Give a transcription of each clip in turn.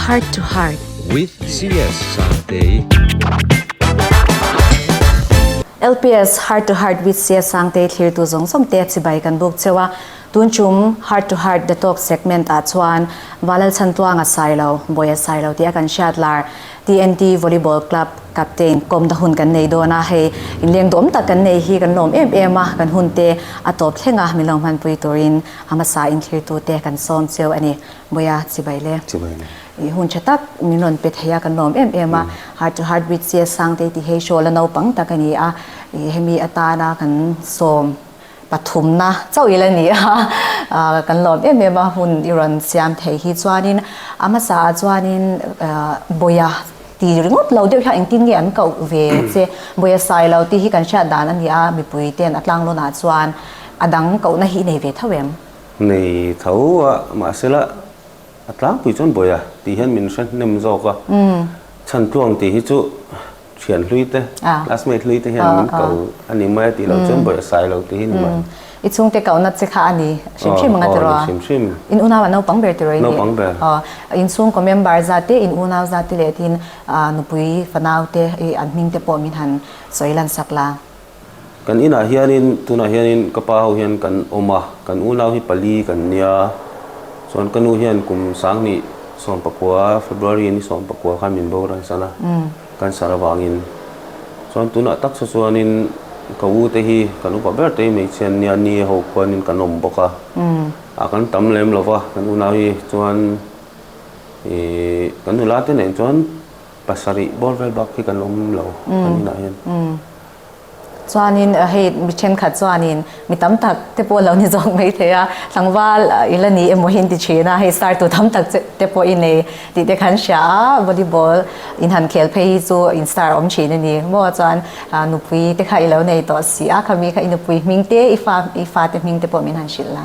Heart to Heart with CS Sangtei LPS Heart to Heart with CS Sangtei thlir tu zawng zawng te chibai kan buk cheu a. Tun chum heart to heart detox segment ah chuan Valalchhantuanga Sailo, Bawia Sailo tih a kan hriat lar, TNT Volleyball Club Captain kawmna hun kan nei dawn a, hei inleng duam tak kan nei hi kan lawm em em a, kan hun te a tawp thleng a, min lo hmanpui turin a hmasa inthlirtu te kan sawm cheu a ni. Bawia Chibaile, i hun tha tak min rawn pe thei a, kan lawm em em a, heart to heart with Siasangte tih hi hrawla naupang tak a ni a, i hemi atana kan sawm. Pathumna chauh ila ni a, kan lawm em em a hun i rawn siam thei hi chuanin a hmasa ah chuanin Bawia ti ringawt lo deuh hian engtin nge an koh ve che Bawia sai lo tih hi kan hriat dan a ni a, mipui ten a tlang lawnah chuan a dang kohna hi i nei ve tho em? Nei tho a, mahsela a tlangpui chuan Bawia tih hian min hre hnem zawk a, chhan tluang tih hi chu thian hlui te classmate hlui te hian min ko a ni mai a tih lo chuan bawih a sai lo tih hi ni mai. I chhungte kauna che kha a ni hrim hrim anga ti rawh a? Hrim hrim. In unau ah naupang ber ti rawh i ni? Naupang ber. Aw, inchhungkaw member zat te, in unau zat te leh tiin nupui fanaute an hming te pawh min han sawi lansak la. Kan inah hianin, tunah hianin ka pa ho hian kan awm a, kan unau hi pali kan nia, chuan ka nu hian kum sangni sawmpakua, February ni sawmpakua khan min bora'n san a, kan sar avangin chuan tunah taksa chuanin ka u te hi kan upa ber te hi hmeichhia'n nia ni a ho khuanin kan awm bawk a, a kan tam lem lova kan unau hi chuan ih kan nula te nen chuan, Pasarih bawr vel bak hi kan awm lo kan inah hian. Chuanin hei mi thenkhat chuanin mi tam tak te pawh an lo ni zawk mai thei a, tlangva ila ni emaw hi an ti thin a, hei star tu tam tak te pawh i nei tih te kan hria a, volleyball inhan khel phei hi chu in star a awm thin a ni. Maw chuan nupui te kha i lo nei tawh si a, khami kha i nupui hming te i fa te hming te pawh min han hrilh la.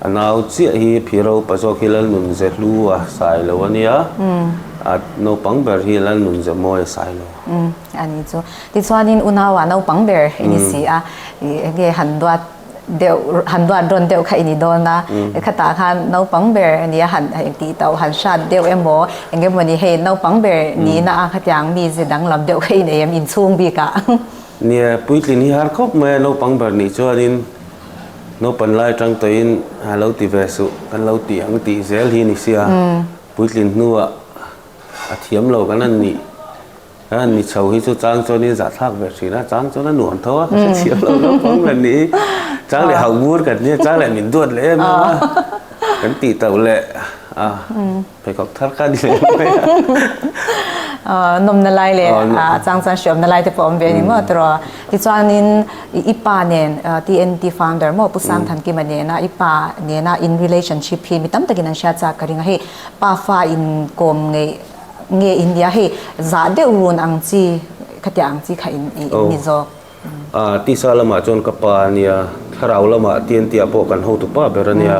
A nau chiah hi phi ropa zawk hi Lalnun ze hlu a sai lo a nia, a naupang ber hi Lalnun ze mawi a sai lo. A ni chu. Tichuanin unaua naupang ber i ni si a, enge han duat deuh, han duat rawn deuh kha i ni dawn a, khatah khan naupang ber a nia han tih tauh, han hriat deuh emaw, engemawni hei naupang ber nihna ang khatiang mi ze danglam deuh kha i nei em inchhung bikah. Nia, Puitlin hi har khawp mai a, naupang ber nih chuanin naupan lai atang tawhin a lo ti ve suh kan lo ti ang tih zel hi ni sia. Puitlin hnuah a thiam lo kan a nih kan a ni chho hi chu chang chuanin zahthlak ve thin a, chang chuan a nuam tho a ka hre thiam lo naupang ber nih hi chang leh haubur kan nia chang leh min duat leh em em a kan tih tauh leh a. pheikhawk thar khan i leh mai a. Aw, nawmna lai leh a chang chang hriamna lai te pawh a awm ve a ni maw Tara? Tichuanin i pa nen, TNT founder maw, Pu Sangthankim-a nena, i pa nena in relationship hi mi tam takin an hriatchak ka ring a, hei pa fa inkawm ngeih nge india hei zah deuh run ang chi khatiah ang chi kha i ni zawk. A tisa lamah chuan ka pa a nia, thlarau lamah Tiantia pawh kan ho tu pa ber a nia.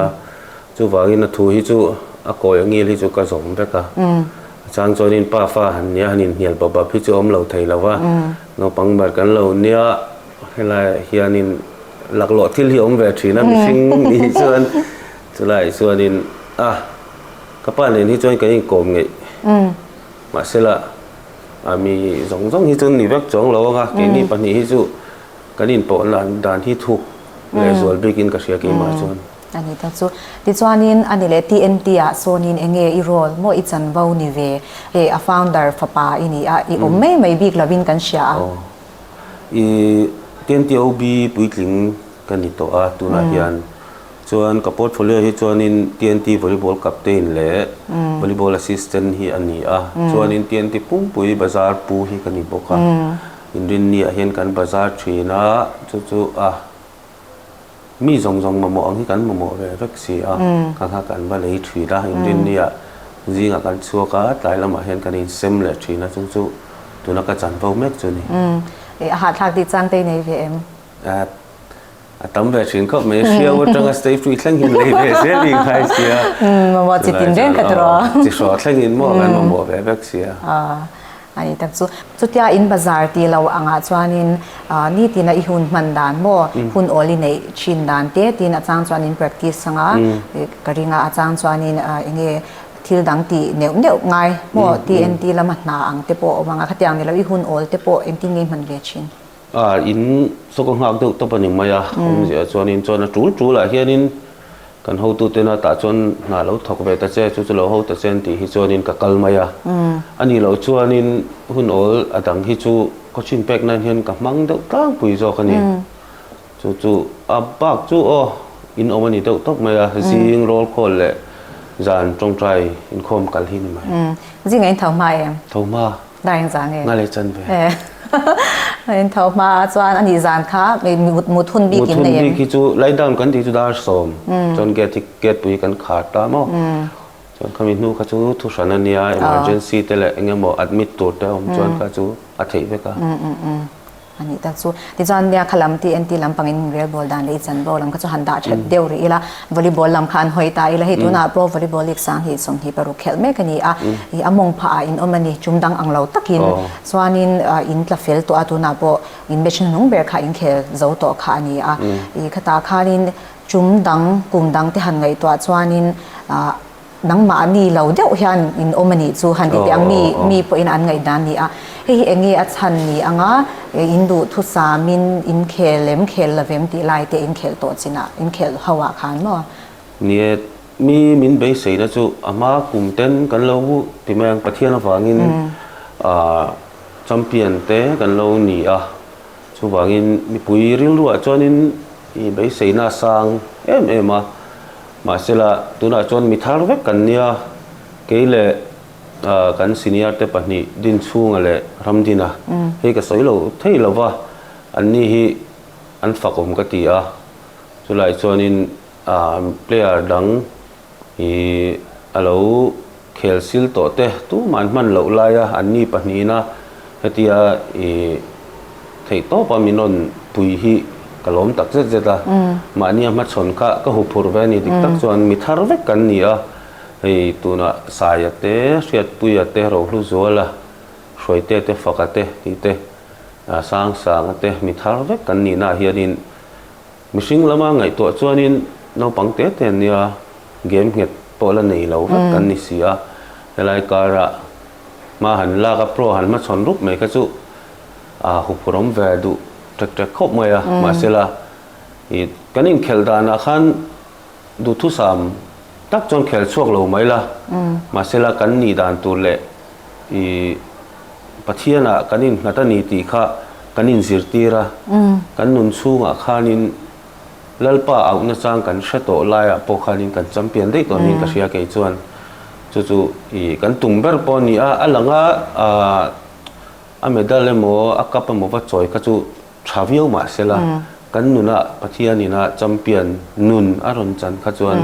Chuvangin a thu hi chu a kawi a ngil hi chu ka zawm vek a. A chang chuanin pa fa han nia han inhnial bap bap hi chu a awm lo thei lo va, naupang ber kan lo nia helai hianin laklawh thil hi awm ve thin a mihring nih hi chuan chulaiah chuanin a ka pa nen hi chuan kan inkawm ngeih mahsela, a mi zawng zawng hi chu ni vek chuang lo anga keini pahnih hi chu kan inpawh lan dan hi thuk leh zual bikin ka hria keimah chuan. A ni ta chu. Tichuanin a ni leh tih entia sawnin enge i role maw i chanvo ni ve? Hei a founder fapa i ni a, i awm mai mai bik lovin kan hria a. Aw. I tntiob puitling ka ni tawh a tunah hian Chuan ka portfolio hi chuanin TNT Volleyball Captain leh Volleyball Assistant hi a ni a, chuanin TNT pumpuii bazar pu hi ka ni bawk a. Inrinni ah hian kan bazar thin a, chu chu a mi zawng zawng mamawh ang hi kan mamawh ve vek si a, ka nghak kan va lei thin a. Inrinni ah zingah kan chhuak a, tlai lamah hian kan insem leh thin a, chu chu tuna ka chanvo mek chu a ni. Eeh, a hahthlak tih chang te i nei ve em? Eeh, A tam ve thin khawp mai, hriau atanga stage tu i thleng hian lei ve zel i ngai sia. Mamawh chi tin reng khat rawh. Chi hrawh thlengin maw kan mamawh ve vek sia. A ni tak chu. Chutia in bazar tih lo angah chuanin ni tina i hun hman dan maw, hun awl i neih thin dan te tiin a chang chuan in practice anga ka ring a. A chang chuanin eng nge thil dang ti neuh neuh ngai maw tih entir lama hna ang te pawh a awm ang a. Khatiang nilo i hun awl te pawh engtin nge i hman ve thin. A in saw ka nghak deuh tawp a ni mai a, awm ziah chuanin chuan a tul tul ah hianin kan hotu tena tah chuan hna lo thawk ve ta che, chu chu lo ho ta che an tih hi chuanin ka kal mai a. A nih loh chuanin hun awl a dang hi chu ka thin pek nan hian ka hmang deuh tlangpui zawk a ni. Chu chu a bak chu aw in awm a ni deuh tawp mai a, zing rawl khawl leh zan tawngtai inkhawm kal hi a ni mai. Zing a in tho hma em? Tho hma. Dah eng zah nge? Nga leh chan ve. He haha in tho hma ah chuan a nih zan kha mut hun bik in nei em? Mut hun bik hi chu light down kan tih chu dar sawm chuan gate hi gate pui hi kan khar ta maw chuan khami hnu kha chu thu hran a nia emergency te leh eng emaw admit tur te awm chuan kha chu a theih vek a. a nih tak chu. Tichuan nia kha lam TNT lam pangin min rel bawl dan leh i chan bawl ang kha chu han dah that deuh rih ila, volleyball lam kha an hawi ta ila. Hei tunah Pro Volleyball League sang hi sawmhnih paruk khelh mek a ni a, ih a mawng phah ah in awm a ni, tum dang ang lo takin chuanin in tla fel tawh a, tunah pawh in match hnu hnung ber kha in khel zo tawh kha a ni a. Ih khatah khanin tum dang, kum dang te han ngaihtuah chuanin nangmah a ni lo deuh hian in awm a nih chu han ti teh ang, mi mi pawhin an ngaih dan a ni a, hei hi eng nge a chhan ni ang a, in duh thusam in in khel lem khel lovem tih lai te in khel tawh chin ah, in khel ho ah khan maw. Ni e, mi min beisei na chu a hma kum ten kan lo vu ti mai ang, Pathian avang in ah champion te kan lo ni a, chu vang in mipui rilru ah chuan in beisei na a sang em em a, Mahsela, tunah chuan mi thar vek kan nia, kei leh kan senior te pahnih Dinchhunga leh Ramdina hi ka sawi lo thei lo va, an ni hi an fakawm ka ti a, chulai chuanin player dang hi a lo. Khel sil tawhte tum an hman loh laia an ni pahnihina hetia i theih tawpa min rawn pui hi ka lawm tak zet zet a. Mahni a hmachhawn kha ka hu phurh ve a nih dik tak chuan mi thar vek kan ni a. Hei tunah Saia te, Hriatpuia te, Rohluzuala, Hruaite te, Faka te tih te, Sangsanga te mi thar vek kan nihnaah hianin, Mihring lama ngaihtuah chuanin naupang te te nia game nghet pawh la nei lo vek kan ni si a, helai kara hma han lak a pro han hmachhawn rup mai kha chu a huphurawm ve duh ṭek ṭek khawp mai a, mahsela i kan inkhelh danah khan Duhthusam tak chuan khel chhuak lo mai la, mahse la kan nih dan tur leh i Pathiana kan innghat a ni tih kha kan inzirtir a. Kan nun chhungah khanin Lalpa auh nachang kan hre tawh laiah pawh khanin kan champion daih tawh niin ka hria kei chuan chu chu i kan tum ber pawh a ni a. A langa a medal emaw a cup emaw va chawi kha chu. Tha viau mah sela kan nuna Pathianin a champion nun a rawn chan kha chuan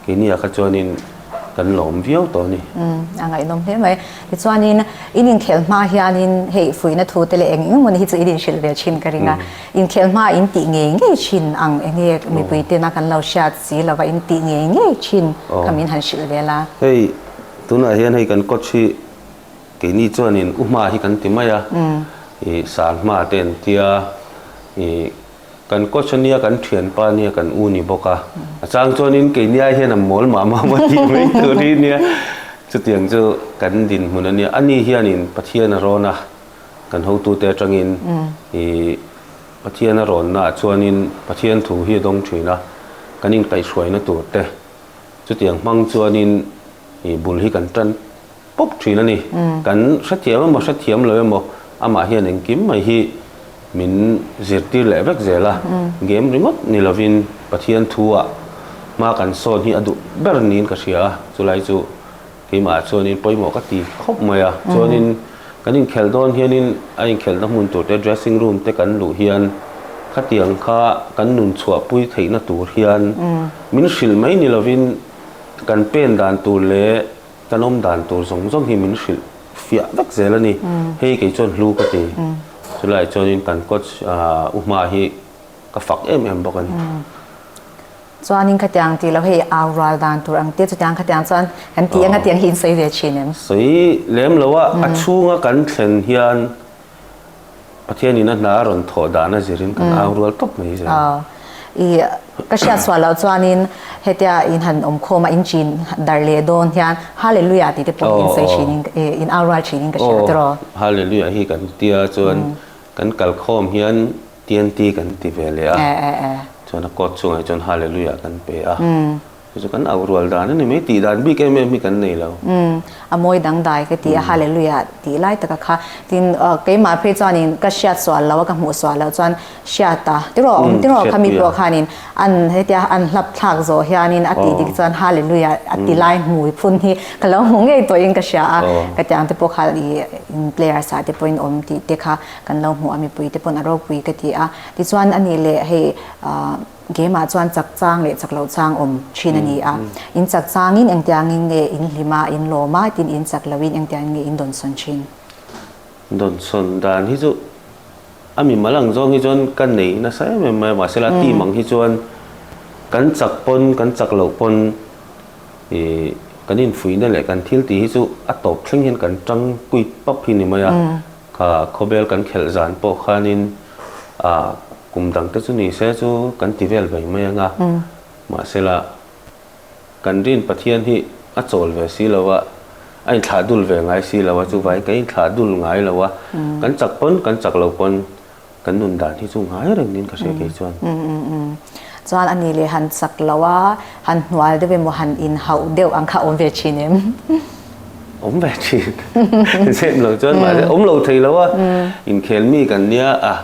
keini ah kha chuanin kan lawm viau tawh a ni. Umm, a ngaihnawm hle mai. Tichuanin in inkhelh hma hianin hei fuihna thu te leh eng eng mawni hi chu in inhrilh ve thin ka ring a. Inkhelh hma ah in tih ngei ngei thin ang eng nge mipui ten a kan lo hriat si lova in tih ngei ngei thin kha min han hrilh vel a. Hei tunah hian hei kan coach hi. Keini chuanin u hma hi kan ti mai a, i sal hma te an tia, i kan coach ania kan thianpa ania kan u ni bawk a, a chang chuanin keini ai hian a mawl mah mah maw tih mai tur hi nia, chutiang chu kan dinhmun ania, ani hianin Pathian a rawn a, kan hotute atangin i Pathian a rawnnaah chuanin Pathian thu hi a dawng thin a, kan inkaihhruaina tur te, chutiang hmang chuanin i bul hi kan tan. pawp thin a ni. Kan hrethiam emaw hrethiam lo emaw amah hian engkim mai hi min zirtir leh vek zel a, game ringawt ni lovin Pathian thuah hma kan sawn hi a duh ber niin ka hria a, chulai chu keimahah chuanin pawimawh ka ti khawp mai a, chuanin kan inkhelh dawn hianin a inkhelhna hmun tur te dressing room te kan luh hian khatiang kha kan nun chhuahpui theihna tur hian min hrilh mai ni lovin kan pen dan tur leh Kan awm dan tur zawng zawng hi min hrilh fiah vek zel a ni. Hei kei chuan hlu ka ti. Chulaiah chuanin kan coach u hma hi ka fak em em bawk a ni. Chuanin khatiang ti lo hei au rual dan tur ang tia chutiang khatiang chuan kan ti anga tiang hi in sawi ve thin em? Sawi lem lo a, a chhunga kan thlen hian Pathian in a hna a rawn thawh dan a zirin kan au rual tawp mai zel. Aw. I ka hriat chhuah lo chuanin hetia in han awmkhawm a in chin darh leh dawn hian Hallelujah tihte pawh in sawi thinin in au rual thinin ka hria tiraw. Aw Hallelujah hi kan ti a chuan kan kalkhawm hian TNT kan ti ve leh a chuan a court chhungah hi chuan Hallelujah kan pe a. Hei chu kan auh rual dan a ni mai, tih dan bik em em hi kan nei lo. Umm, a mawi dangdai ka ti a, Hallelujah tih lai taka kha. Tin, keimah phei chuanin ka hriat sual lo a, ka hmuhsual loh chuan hriat a tiraw awm tiraw kha mi pawh khanin an hetia an hlap thlak zawh hianin a tih dik chuan Hallelujah a ti lai hmui phun hi ka lo hmu ngei tawhin ka hria a. Ka tiang te pawh kha i players ah te pawhin awm tih te kha kan lo hmu a, mipuite pawn a ropui ka ti a. Tichuan a nih leh hei, Game ah chuan chak chang leh chak lo chang awm thin a ni a. In chak chang in engtiang in nge in hlim a, in lawm a, tin in chak lo in engtiang in nge in dawn sawn thin? Dawn sawn dan hi chu a mimal ang zawng hi chuan ka nei nasa em em mai a, mahse la team ang hi chuan kan chak pawn kan chak loh pawn ih kan infuihna leh kan thil tih hi chu a tawp thleng hian kan tangpuih pap hi ni mai a. Kha khawbel kan khelh zan pawh khanin ah kum dang te chu ni se chu kan ti vel vei mai anga mahsela kan rin Pathian hi a chawl ve si lo a, a inthlahduul ve ngai si lo a, chuvai ka inthlahduul ngai lo a, kan chak pawn kan chak lo pawn Kan nun dan hi chu ngai reng in ka hre kei chuan. Umm umm umm. Chuan a ni le han chak lo a, han hnual deuh emaw han in hauh deuh ang kha a awm ve thin em? Awm ve thin. Zep lo chuan mahse awm lo thei lo a, inkhel mi kan nia a,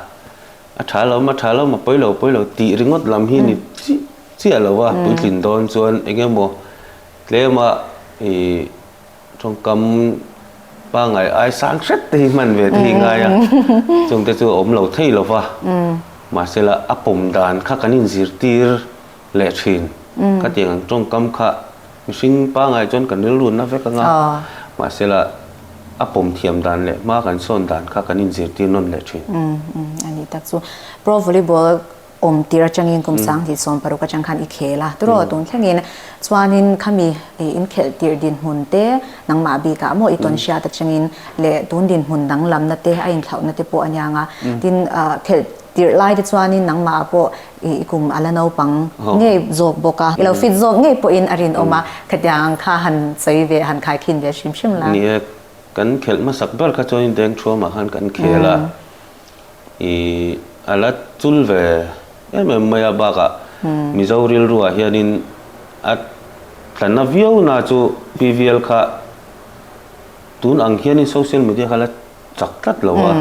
a tha hlawm a tha hlawm a pawi lo pawi lo tih ringawt lam hi ni chiah chiah lo a, puitlin dawn chuan eng emaw tlem a ih. Thawngkam pangngai ai sang hret te hi hman ve te hi ngai a, chungte chu a awm lo thei lo va, mahsela a pawm dan kha kan in zirtir leh thin, khatiang ang tawngkam kha mihring pangngai chuan kan rilrunna vek anga mahsela a pawm thiam dan leh hma kan sawn dan kha kan in zirtir nawn leh thin. Anih tak chu pro volleyball awm tir atangin kum sang ti sawm paruk atang khan i khel a. Turaw tun thlengin chuanin khami in khelh tir dinhmun te, nangmah bik ah maw i tawn hriat atangin leh tun dinhmun dang lamna te, a inhlauhna te pawh a niang a. Tin, khelh tirh lai te chuanin nangmah ah pawh i kum a la naupang ngei zawk bawk a, i lo fit zawk ngei pawhin a rinawm a, khatiang kha han sawi ve, han khaikhin ve hrim hrim la. Ni e, kan khelh hmasak ber kha chuanin dengṭhuam ah khan kan khel a. i a la chul ve em em mai a bakah Mizo rilruah hianin a tla na viau na chu PVL kha tun ang hianin social media kha la chak tlat lo a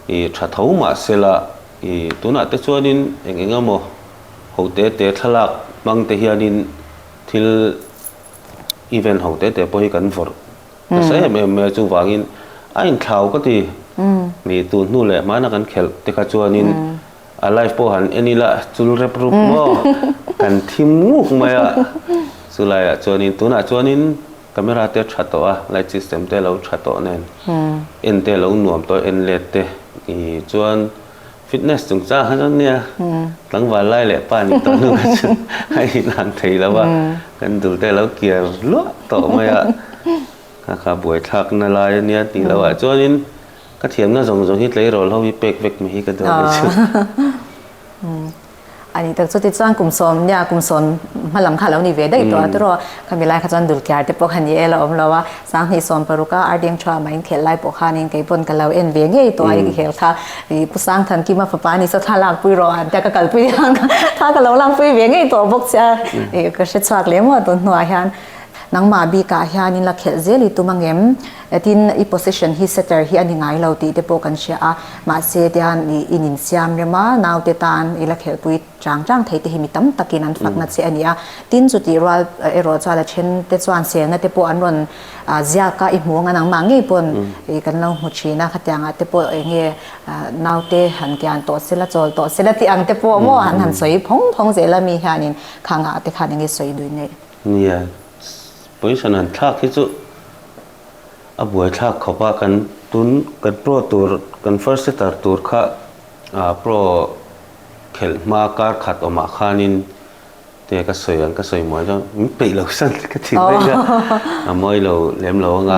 i tha tho mahsela i tunah te chuanin eng eng emaw ho te te thlalak hmang te hianin thil event ho te te pawh hi kan vawrh Ka sa em em mai a chuvangin a inthlau ka ti. Mi tun hnu leh hmana kan khelh te kha chuanin a life pawh han en ila chul rep rup maw kan thim nguk mai a. Chulaiah chuanin tunah chuanin camera te tha tawh a, light system te lo tha tawh nen en te lo nuam tawh a, en let te. Ni chuan. Fitness chungchang a lo nia, tlangval lai leh pa nih tawh hnu kha chu a inang thei lo a, kan dul te a lo kiar luah tawh mai a, kha kha buaithlak na lai a nia tih loah chuanin ka thiamna zawng zawng hi tleirawl ho hi pek vek mai hi ka duh ang ni chu. A nih tak chuti chuan kum sawm nia, kum sawm hma lam kha a lo ni ve daih tawh a tiraw? Khami lai kha chuan dul kiar te pawh kha ni el a awm lo a, sang hnih sawm paruk a Ardiang Chua ama inkhelh lai pawh khanin kei pawn ka lo en ve ngei tawh a, i khel kha ih Pu Sangthankim a fapa ni sawtha lakpui rawh an tia ka kal pui ang kha, tha ka lo lakpui ve ngei tawh bawk che a, ih ka hre chhuak leh maw a tunhnuah hian nangma bikah hianin la khelh zel i tum angem? Tin, i possession hi setter hi a ni ngai lo tih te pawh kan hria a, mahse tian i in insiam rem a, naute tan i la khelhpui chang chang thei te hi mi tam takin an fakna che a ni a, tin chutih rual erawh chuan a then te chuan selna te pawh an rawn ziak a, i hmuang an ang mah ngei pawn kan lo hmu thin a, khatiang ah te pawh eng nge naute han kian tawh sela chawl tawh sela tih ang te pawh maw an han sawi phawng phawng zel a, mi hianin khangah te khan eng nge sawi duh ngei. Nia. Poison han thlak hi chu a buai thlak khawp a, kan tun kan pro tur kan first setter tur kha ah pro khelh hma kar khat awmah khanin te ka sawi ang ka sawi mual dawn min peih lo san ka ti mai a a mawi lo lem lo anga.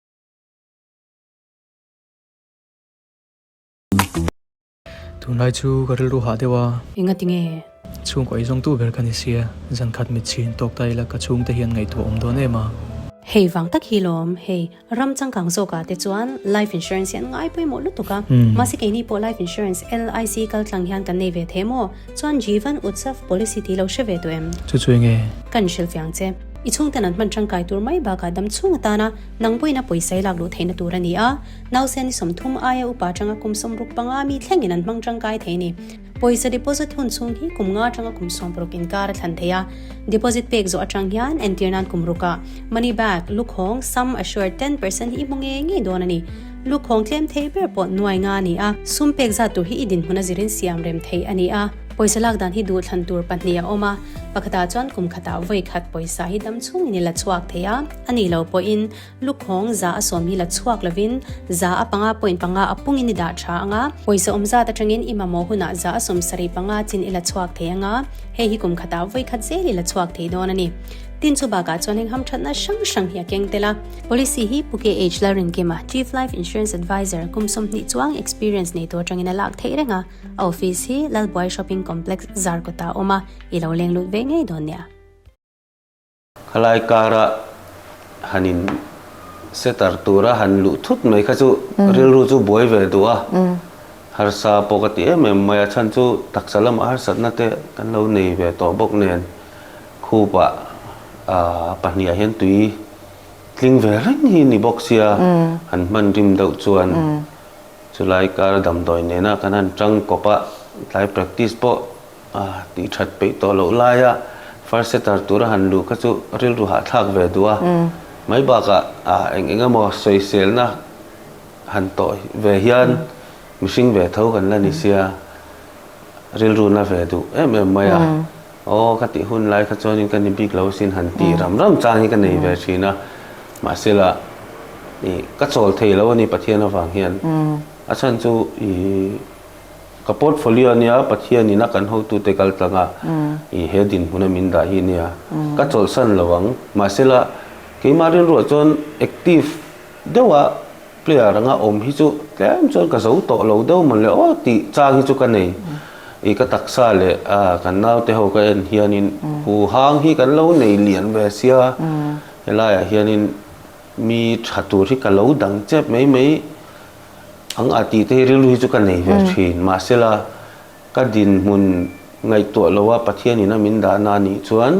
Tunlai chu ka rilru hah deuh a. Enga ti nge? Chhung kawi zawng tu ber ka ni sia. Zan khat mit chhin tawk ta ila ka chhungte hian ngaihtuah awm dawn em a. Hei vang tak hi lawm, hei ram changkang zawkah te chuan life insurance hi an ngai pawimawh lutuk a. Mahse keini pawh life insurance, LIC, kal tlang hian kan nei ve thei maw? Chuan Jivan Utsav policy ti lo hre ve tawh em? Chu chu enge? Kan hrilhfiang che. I chhungten an hman tangkai tur mai bakah dam chhung atana nangbuaina pawisai lak luh theihna tur a ni a. Nausen ni sawmthum aia upa tanga kum sawm ruk panga mi thlengin an hmang tangkai thei a ni. Pawisa deposit hun chhung hi kum nga tanga kum sawm ruk inkar a thlan thei a. Deposit pek zawh atang hian entir nan kum ruka money back, lukhawng, sum assured ten percent hi i hmu nge ngei dawn a ni. Lukhawng tlem thei ber pawh nuai nga a ni a, sum pek zat tur hi i dinhmun a zirin siam rem thei a ni a. Pawisa lak dan hi duh thlan tur pahnih a awm a, pakhatah chuan kum khatah vawi khat pawisa hi dam chhung in i la chhuak thei a, a nih loh pawhin lukhawng za a sawm hi la chhuak lovin za a panga pawhin panga a pungin i dah tha ang a, pawisa awm zat atangin i mamawh hunah za a sawm sarih panga chin i la chhuak thei ang a, hei hi kum khatah vawi khat zel i la chhuak thei dawn a ni. Tin chu bakah chuan heng hamthatna hrang hrang hi a keng tel a. Policy hi Phuket Age Lalrinkima, Chief Life Insurance Adviser, kum sawmhnih chuang experience nei tur atangin a lak theih reng a, A office hi Lalbuai Shopping Complex Zarkawtah a awm a, i lo leng lut ve ngei dawn nia. Khalai kara han in setter tura han luh thut mai kha chu rilru chu buai ve duh a, harsa pawh ka ti em em mai a, chhan chu taksa lamah harsatna te kan lo nei ve tawh bawk nen khupa pahnih ah hian tui tling ve reng hi ni bawk sia, han hman rim deuh chuan Chulai kar damdawi nena kan han chang kawp a, tlai practice pawh a tih that peih tawh loh laia first setter tura han luh kha chu rilru hahthlak ve duh a, mai bakah eng eng emaw sawiselna han tawh ve hian mihring ve tho kan la ni sia rilruna ve duh em em mai a. Aw, ka tih hun lai kha chuanin ka ni bik lo sin han tih ram ram chang hi ka nei ve thin a, mahsela i ka chawl thei lo a ni Pathian avang hian. A chhan chu i ka portfolio a nia, Pathian in a kan hotute kaltlanga i he dinhmun a min dah hi nia, ka chawlhsan lo ang. Mahsela keimah rilruah chuan active deuha Clear anga awm hi chu tlem chuan ka zo tawh lo deuh mawle aw tih chang hi chu ka nei. I ka taksa leh a kan naute ho ka en hianin huhang hi kan lo nei lian ve sia. Helaiah hianin mi tha tur hi ka lo dang chep mai mai. Ang a tih te hi rilru hi chu ka nei ve thin. Mahsela ka dinhmun ngaihtuah loa Pathian ina min dahna anih chuan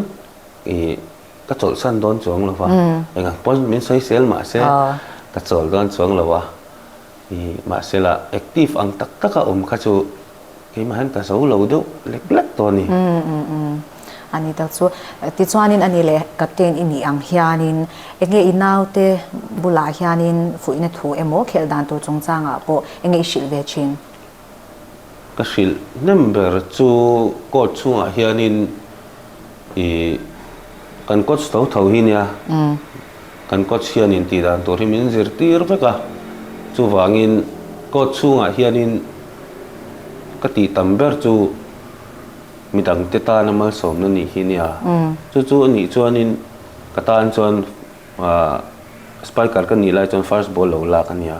i. ka chawlhsan dawn chuang lo va eng ang pawh min sawi sel mah se ka chawl dawn chuang lo va i mahse lah active ang tak tak a awm kha chu keimah hian ka zo lo deuh lek lek tawh a ni a ni tak chu tichuanin a ni leh captain i nih ang hianin eng nge i naute bulah hianin fuihna thu emaw khelh dan tur chungchangah pawh eng nge i hrilh ve thin? ka hrilh hnem ber chu court chhungah hianin ih kan coach tho tho hi nia kan coach hian intih dan tur hi min zir tir vek a chuvangin court chhungah hianin ka tih tam ber chu midangte tana malsawmna nih hi nia chu chu anih chuanin ka tan chuan Ahh spiker ka nih lai chuan first ball lo lak a nia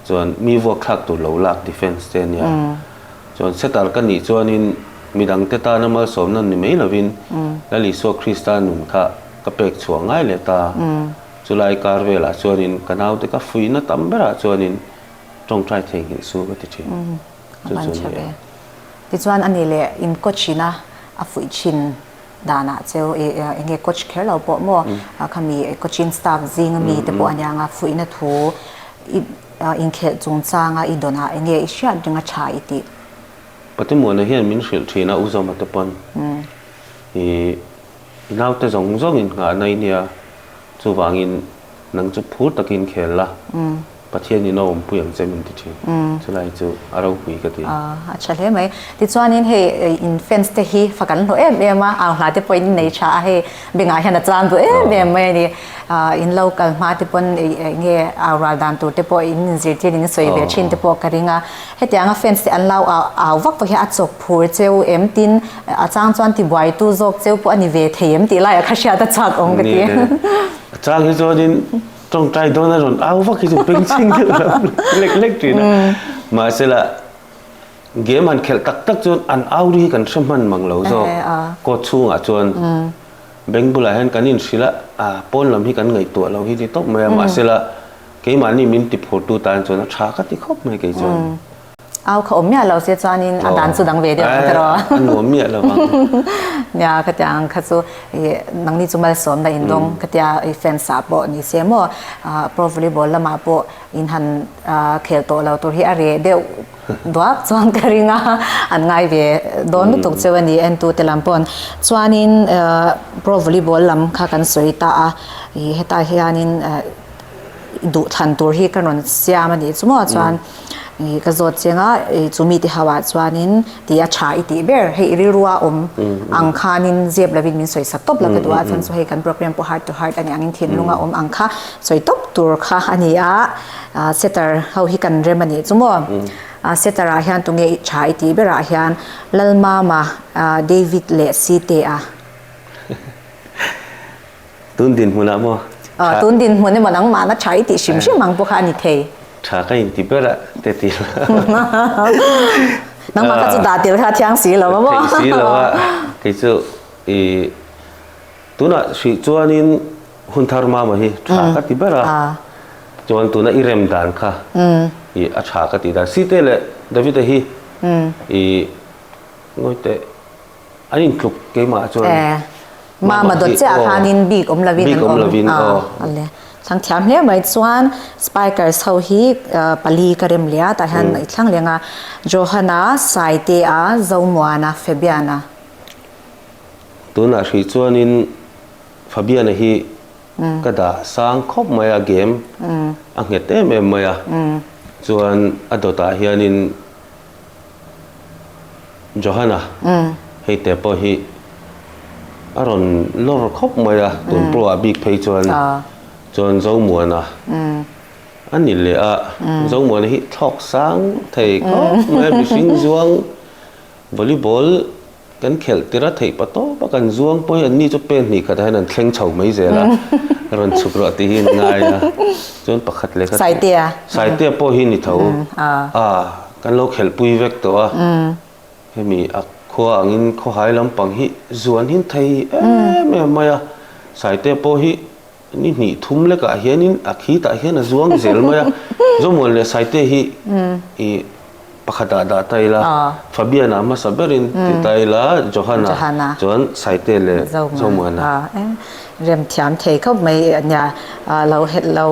chuan mi vuak thlak tur lo lak defence te a nia chuan setter ka nih chuanin midang te tana malsawmna ni mai lovin Lal Isua Krista nun kha ka pek chhuah ngai leh ta. Chulai kar velah chuanin ka naute ka fuihna tam berah chuanin tawngtai thei nghilh su ka ti thin. Chu chu a ni ang. Tichuan a ni leh in coach ina a fuih thin. danah chu enge coach kher lo pawh maw khami coaching staff zinga mi te pawh aniang a fuihna thu i inkhelh chung chang a i dawn a enge i hriat ring a tha i tih. Patimuahna hian min hrilh thin a Uzoma te pawn i i naute zawng zawngin nghahna i nia chuvangin nang chu phur takin khel la. Pathian in a awmpui ang che min ti thin. Chulai chu a ropui ka ti. A tha hle mai. Tichuanin hei in fans te hi fa kan hlawh em em a, ang hla te pawhin in nei tha a, hei bengah hian a chang duh em em mai a ni. In lo kal hma te pawn eng nge au rual dan tur te pawh in zirtir in sawi ve thin te pawh ka ring a. Heti anga fans te an lo au vak pawh hian a chawk phur che u em tin a chang chuan tibuai tu zawk che u pawh a ni ve thei em tih lai ah kha hriat a chhuak awm ka ti. A chang hi chuanin. Tawngtai dawn a rawn au vak hi chu pengchhing deuh lo lek lek thin a mahsela game han khelh tak tak chuan an au ri hi kan hre hman mang lo zawk court chhungah chuan bank bulah hian kan inhrilh a a pawn lam hi kan ngaihtuah lo hi ni tawp mai a mahsela keimahni min tiphur tu tan chuan a tha ka ti khawp mai kei chuan Au kha awm miah lo se chuanin a dan chu dang ve deuh ang te rawh. A nuam miah lo ang. Nia ka tia ang kha chu i nangni chu malsawm la indawng ka tia i fans ah pawh ni se maw pro volleyball lamah pawh in han khel tawh lo tur hi a reh deuh duak chuan ka ring a an ngai ve dawn lutuk cheu a ni entute lam pawn chuanin pro volleyball lam kha kan sawi ta a i heta hianin duh thlan tur hi ka rawn siam a nih chu maw chuan ih ka zawt chiang a ih chu mi te ho ah chuanin tih a tha i tih ber hei rilrua awm ang khanin ziep lovin min sawi sak tawp la ka duh a chuan chu hei kan programme pawh heart to heart a nih angin thinlung a awm ang kha sawi tawp tur kha a ni a ah setter ho hi kan rem a nih chu maw ah setter ah hian tunge ih tha i tih ber ah hian lalmama ah david leh site a. Tun dinhmun ah maw? Aw, tun dinhmun emaw nangmahna tha i tih hrim hrim ang pawh kha a ni thei. Tha ka inti ber a, teti. Nangmah kha chu dah tel kha a thiang si lo a maw? Theih si lo a, kei chu i tunah hrih chuanin hun thar mama hi tha ka ti ber a, chuan tuna i rem dan kha i a tha ka ti dan. Site leh Davita hi i ngawihte An in tluk keimah chuan. E. Mama dawt chiah khanin bik awm lovin an awm. Bik awm lovin a. A le. Thlang thiam hle mai chuan Spikers ho hi pali ka rem leh a, tah hian i thlang leng a. Johan-a, Saitea, Zomuan-a, Fabian-a. Tunah hrih chuanin Fabian-a hi ka dah sang khawp mai a, game a nghet em em mai a. Chuan a dawtah hianin. Johanna, hei te pawh hi a rawn lawr khawp mai a, tun pawh a bik phei chuan, chuan Zomuana a ni leh a, Zomuana hi thlawk sang thei khawp mai a, mihring zuang volleyball. Kan khelh tir a, theih pa tawh pa kan zuang pawh hi an ni chu pen hnih khatah hian an thleng chho mai zel a, rawn chhuk rawh tih hi an ngai a, chuan pakhat leh ka Saitea, Saitea pawh hi ni tho, ah kan lo khelh pui vek tawh a, hemi a khua angin khawhai lampang hi zuan hin thei em em mai a, Saitea pawh hi. ni hnih thum lekah hianin a khitah hian a zuang zel mai a Zawmual leh Saite hi i pakhatah dah ta ila Fabiana hmasa berin ti ta ila Johana chuan Saite leh Zawmuala em remthiam thei khawp mai a nia lo lo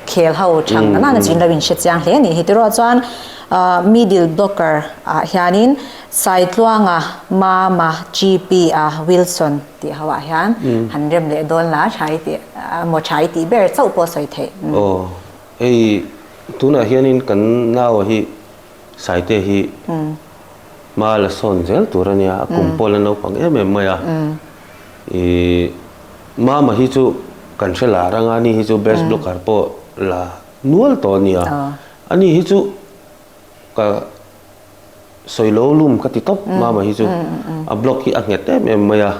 khel ho chang nang nang a chin lo inhre chiang hle a nih hi tiruah chuan middle blocker ah hianin Saitluanga mama GP a Wilson tih ho ah hian han rem leh dawn la tha i tih a maw tha i tih ber chauh pawh a sawi theih. Aw hei tunah hianin kan nau hi Saite hi hma la sawn zel tur a nia, a kum pawh la naupang em em mai a, i hma mahni chu kan hre la rang a, ani hi chu best blogger pawh la nual tawh a nia, ani hi chu ka. sawi lo lum ka ti tawp mama hi chu a block hi a nghet em em mai a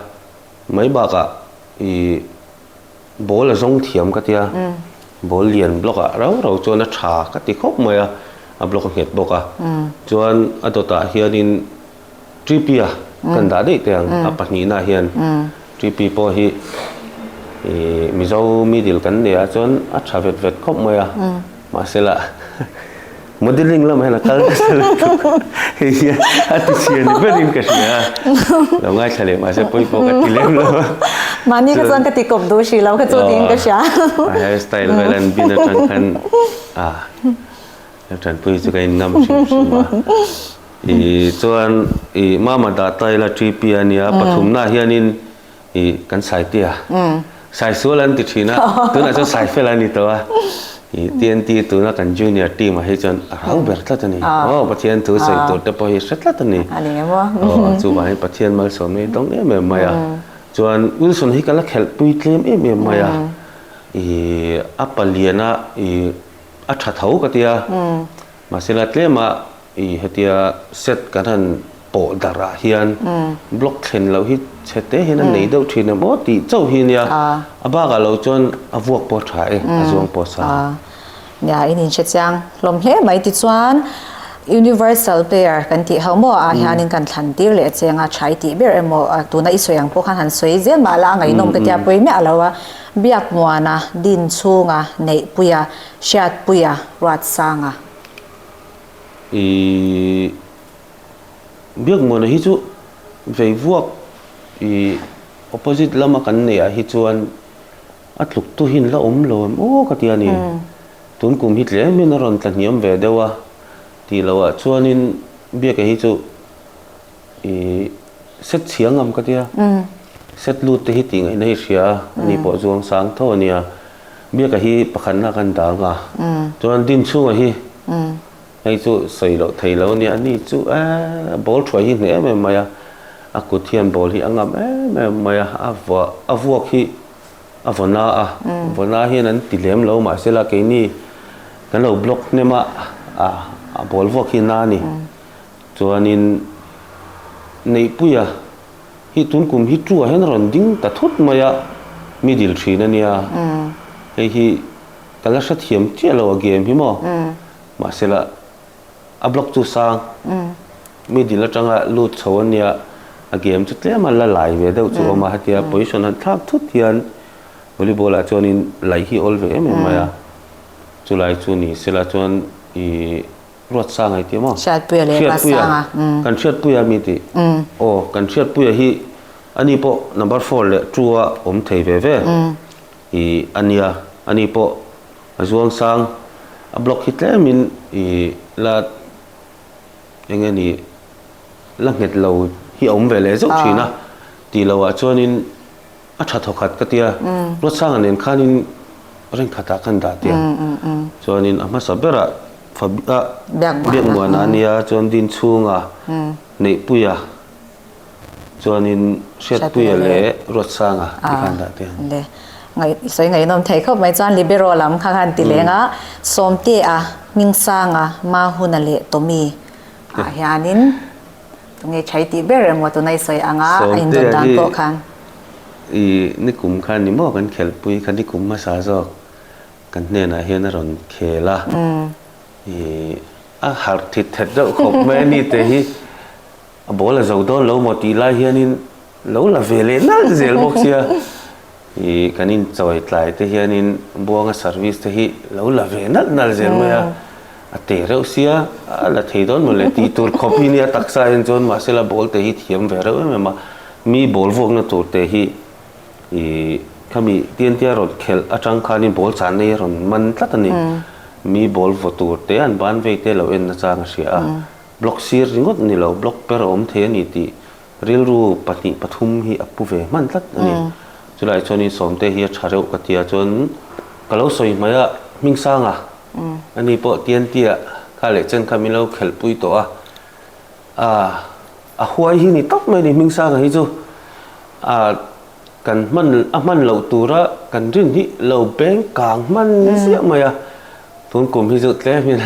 mai bakah i ball a zawng thiam ka tia ball lian block ah rau rau chuan a tha ka ti khawp mai a a block a nghet bawk a chuan a dawtah hianin tp a kan dah daih teh ang a pahnihna ah hian tp pawh hi i mizo middle kan nei a chuan a tha vet vet khawp mai a mahse lah Modelling lam hian a kal ta se lo tuk a, hei hian a ti chhiar ni ber in ka hria a, lo ngaithla leh mah se pawi pawh ka ti lem lo a, mahni kha chuan ka ti kawp duh si lo kha chu tiin ka hria a, hair style vel an bin atang khan a ka tanpui chu ka in ngam hrim hrim a, ih chuan ih mama dah taila tpu a nia pathum na hian in. i kan saite a sai sual an ti thin a tunah chuan sai fel ani to a i tnt tuna kan junior team a hi chuan a rau ber tlat ani aw pathian thu sawi tur te pawh hi hre tlat ani ani emaw aw chu vang in pathian malsawm hi tawng em em mai a chuan wilson hi ka la khelh pui tlem em em mai a i a palian a i a tha tho ka tia mahse la tlem a I hetia set kan han pawh darh ah hian block thlen loh hi chhete hian a nei deuh thin a maw tih chauh hi nia a bak ah lo chuan a vuak pawh a tha e a zuang pawh a sa a. Nia in inhre chiang hlawm hle mai tichuan universal pair kan tih ho maw ah hian in kan thlan tir leh cheng a tha i tih ber emaw tuna i sawi ang pawh khan han sawi zel mah la a ngainawm ka tia pawimeh a lo a biak muan a din chhung a neihpui a hriatpui a ruatsang a. ihh biakngawnah hi chu vei vuak ihh opposite lama kan neih ah hi chuan a tluktu hian la awm lo em aw ka ti a ni tun kum hi tlem hian a rawn tla hniam ve deuh a tih loh ah chuan in biak ah hi chu i set chhia ngam ka tia set lut te hi tih ngaih na i hria ani pawh zuang sang tho ania biaka hi pakhat nak an dang a chuan din chhunga hi hei chu sawi loh thei lo nia ani chu a ball thuai hi hneh em em mai a a kut hian ball hi a ngam em em mai a a vua a vuak hi a vawn a a vawn a hian an ti hlem lo mahse la keini kan lo block hnem a a ball vuak hi na ani. Chuanin Neihpuia, hi tun kum hi ṭuah hian a rawn ding ta thut mai a, middle ṭhin a nia, hei hi ka la hrethiam chiah lo a game hi maw? Mahsela a block chu sang, middle aṭanga lut chho a nia, a game chu tlem a la lai ve deuh chu a awm a, hetia position han thlak thut hian volleyball ah chuanin laih hi a awl ve em em mai a, chulai chu ni sela chuan ih. Hriatsa ngai tih maw? Hriatpuia leh Hriatpuia. Hriatpuia. Kan Hriatpuia a mi tih. Aw, kan Hriatpuia hi ani pawh number four leh two a awm thei ve ve. I a nia, ani pawh a Zuangsang a block hi tlemin i la eng nge ni, la nghet lo hi a awm ve leh zeuh thin a. Tih loah chuanin. A tha thaw khat ka tia, Ruatsanga nen khanin reng khatah kan dah tia. Chuanin a hmasa berah fa a biakmuana a nia, chuan dinchhunga neihpuia chuanin Hriatpuia leh Ruatsanga tih khan dah tia an ni. Sawi ngaihnawm thei khawp mai chuan Libero lam kha khan ti lenga, Sawmtea, Hmingsanga, Mahuna leh Tommy ah hianin. Tunge chhai tih ber emaw tuna i sawi ang a, a inrawn dan pawh khan. Sawmte hi i nikum khan ni maw kan khelhpui kha nikum hmasa zawk kan hnenah hian a rawn khel a, i a harh thit thet deuh khawp mai a ni teh hi a ball a zo dawn lo maw tih lai hianin. Lo la ve leh nalh zel bawk sia. I kan inchawih tlai te hianin buanga service te hi lo la ve nalh nalh zel mai a. A teh reuh sia, a la thei dawn maw le tih tur khawp hi nia taksa in chuan mahsela ball te hi thiam ve reuh em em a. Mi ball vuakna tur te hi i khami tiantia rawn khelh atang khanin ball chah nei a rawn man tlat a ni. Mi ball vaw tur te an ban vei te lo en nachang a hria a. Block sir ringawt ni lo, block per a awm thei a ni tih. Rilru pahnih pathum hi a pu ve hman tlat a ni. Chulaiah chuan i Sawmte hi a tha reuh ka tia chuan ka lo sawi hmai a, Hmingsanga, ani pawh Tiantia kha leh chen kha min lo khelhpui tawh a, a huai hi ni tawp mai a ni Hmingsanga hi chu. kan hman a hman loh tura kan rinhnih lo beng kang hman ziah mai a, tun kum hi chu tlem in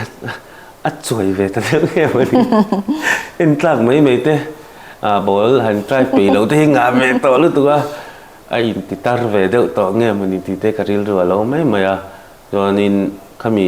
a chuai ve ta deuh em a ni. En tlak mai mai te ah ball han try peih loh te hi ngah ve tawh lutuk a, a in ti tar ve deuh tawh ngem a ni tih te ka rilru alo mai mai a, chuan in khami.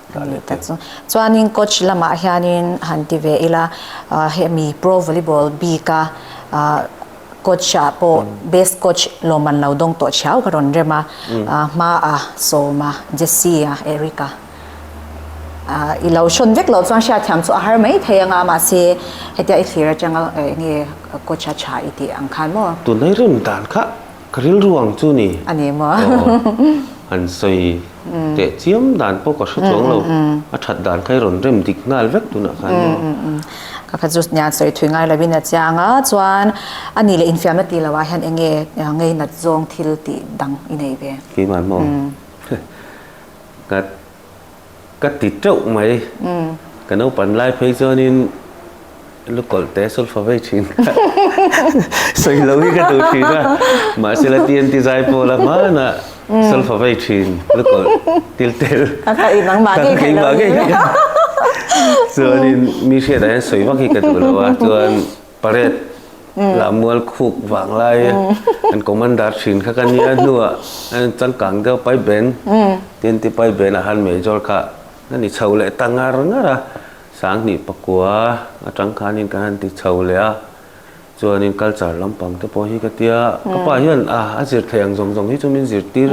Ka ni ta chu. Chuanin coach lamah hianin han ti ve ila, hemi pro volleyball bika coach-a pawh best coach lawmman lo dawng tawh thiau ka rawn rem a, hmaa sawma, Jessie-a, Eric-a, i lo hrawn vek loh chuan hriatthiam chu a har mai thei anga mahse hetia i thlir atanga enge coach-a tha i tih ang khan maw? Tunai rim dan kha Ka rilru ang chu ni. A ni maw? Aww. Han sawi teh chiam dan pawh ka hre chuang lo. A that dan kha i rawn rem dik nghal vek tunah khan maw? Ka kha chu hnian sawi thui ngai lovin a chiang a, chuan a ni leh infiamna ti lohah hian enge ngei nat zawng thil tih dang i nei ve? Keimah maw? Heh. Ka. ka ti teuh mai ka naupan lai phei chuanin lukawl te sulfa vei thin kha sawi lo hi ka duh thin a mahsela ti anti zai pawla hmana sulfa vei thin lukawl til tel ka ka i nangmah ngei theih lo hi chuanin mi hriatah hian sawi vak hi ka duh lo a chuan Parade lah mual khuk vang lai a an commander thin kha ka nia a hnua changkang deuh pai ben tin ti pai ben ah han major kha ka ni chho leh ta ngar ngar a sanghnih pakua a tang khanin ka han ti chho leh a chuanin culture lampang te pawh hi ka tia ka pa hian a a zirthei ang zawng zawng hi chu min zirtir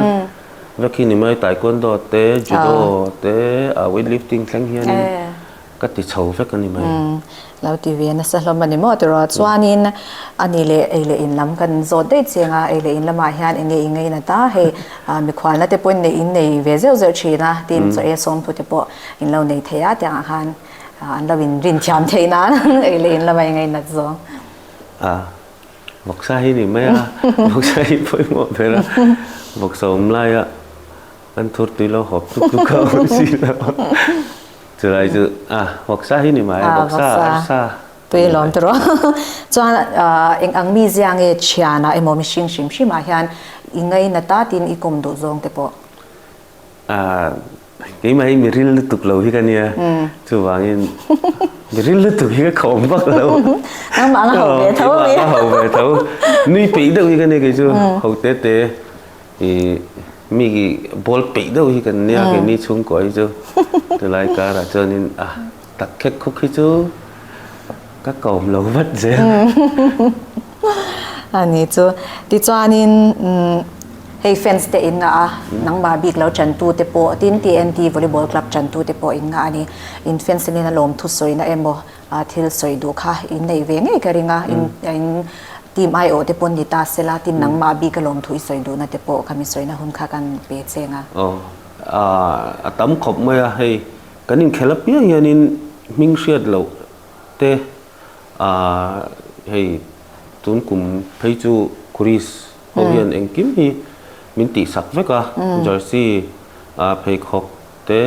vek hi ni mai taekwondo te judo te weight lifting thleng hianin Ka ti chho vek a ni mai. Umm, lo ti ve nasa hlawm a ni maw ti rawh. Chuanin a nih leh ei leh in lam kan zawt daih chiang a, ei leh in lamah hian enge i ngei nat a, hei mikhualna te pawhin neih in nei ve zeuh zeuh thin a, tin chaw e sawmthu te pawh in lo nei thei a tiang ah khan an lo in rinchiam theih nan ei leh in lama i ngei nat zawng. A vawksa hi a ni mai a, vawksa hi pawimawh ber a, vawksa awm laia. Kan thur tui lo hawp tuk tuk kha awm si lo. Chulai chu ah Hawksa hi ni mai, Hawksa, Arsa a ni mai. Chuan eng ang mi zia nge thianah emaw mihring hrim hrimah hian i ngaina ta tin i kum duh zawng te pawh. Ah keimah hi mi ril lutuk lo hi ka nia, chuvangin mi ril lutuk hi ka khawm vak lo. Nangmah anga ho ve tho a mi. Nui peih deuh hi ka nia kei chu, ho te te. Mi ball peih deuh hi kan nia kemi chhungkaw hi chu tilai karah chuanin a tak khek khawk hi chu ka kawm lo vat zia a ni chu tichuanin hei fans te in ngah a nangma bik lo tan tu te pawh tin tnt volleyball club tan tu te pawh in ngah a ni in fans ten in a lawmthu sawina emaw. A thil sawi duh kha in nei ve ngei ka ring a, in in team aiawh te pawn ni ta se la tin nangma bik a lawm thuih sawi duhna te pawh ka mi sawina hun kha kan pe cheng a. Aw ah a tam khawp mai a hei kan inkhel apiang hian in hming hriat loh te ah hei tun kum phei chu Chris ho hian engkim hi min tihsak vek a jersey ah pheikhawk. te